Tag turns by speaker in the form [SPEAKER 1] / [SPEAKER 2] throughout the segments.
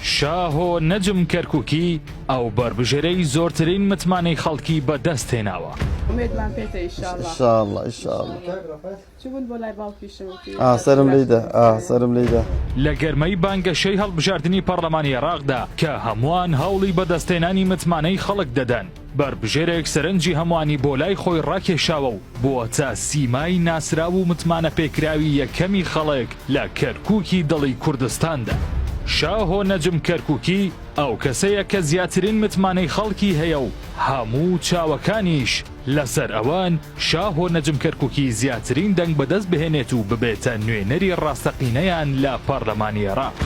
[SPEAKER 1] شاهۆ نەجم کەرکوکی ئەو بەربژێرەی زۆرترین متمانەی خەڵکی بە دەست هێناوە.
[SPEAKER 2] ئومێدمان پێتە
[SPEAKER 3] ئیشاڵڵە. لە گەرمەی
[SPEAKER 1] بانگەشەی هەڵبژاردنی پەڕڵەمانی عێڕاقدا کە هەمووان هەوڵی بەدەستهێنانی متمانەی خەڵک دەدەن، بەربژێرێک سەرنجی هەمووانی بۆ لای خۆی ڕاکێشاوە و بووەتە سیمای ناسراو و متمانەپێکراوی یەکەمی خەڵک لە کەرکووکی دڵی کوردستاندا. شاهۆ نەجم کەرکووکی ئەو کەسەیە کە زیاترین متمانەی خەڵکی هەیە و هەموو چاوەکانیش لەسەر ئەوەن، شاهۆ نەجم کەرکوکی زیاترین دەنگ بەدەست بهێنێت و ببێتە نوێنەری ڕاستەقینەیان لە پەرلەمانی عێراق.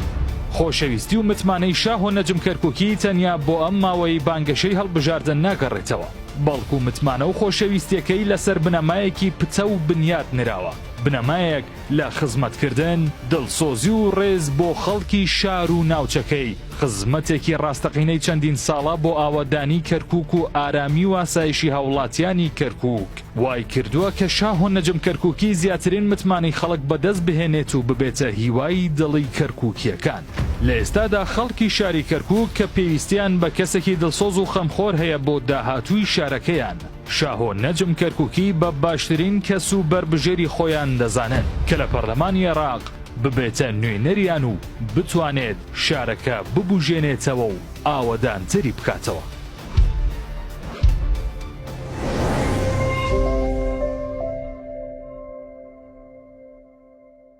[SPEAKER 1] خۆشەویستی و متمانەی شاهۆ نەجم کەرکوکی تەنیا بۆ ئەم ماوەی بانگەشەی هەڵبژاردن ناگەڕێتەوە، بەڵکو متمانە و خۆشەویستیەکەی لەسەر بنەمایەکی پتەو بنیات نراوە، بنەمایەک، لە خزمەتکردن، دڵسۆزی و ڕێز بۆ خەڵکی شار و ناوچەکەی، خزمەتێکی ڕاستەقینەی چەندین ساڵە بۆ ئاوەدانیی کەرکووک و ئارامی و ئاسایشی هاوڵاتیانی کەرکووک، وایکردووە کە شاه و نەجم کەرکووکی زیاترین متمانەی خەڵک بەدەست بهێنێت و ببێتە هیوای دڵی کەرکووکییەکان. لە ئێستادا خەڵکی شاری کەرکووک کە پێویستییان بە کەسێکی دڵسۆز و خەمخۆر هەیە بۆ داهاتووی شارەکەیان، شاهۆ نەجم کەرکوکی بە باشترین کەس و بەربژێری خۆیان دەزانن کە لە پەرلەمانی عێراق ببێتە نوێنەریان و بتوانێت شارەکە ببوژێنێتەوە و ئاوەدانتری بکاتەوە.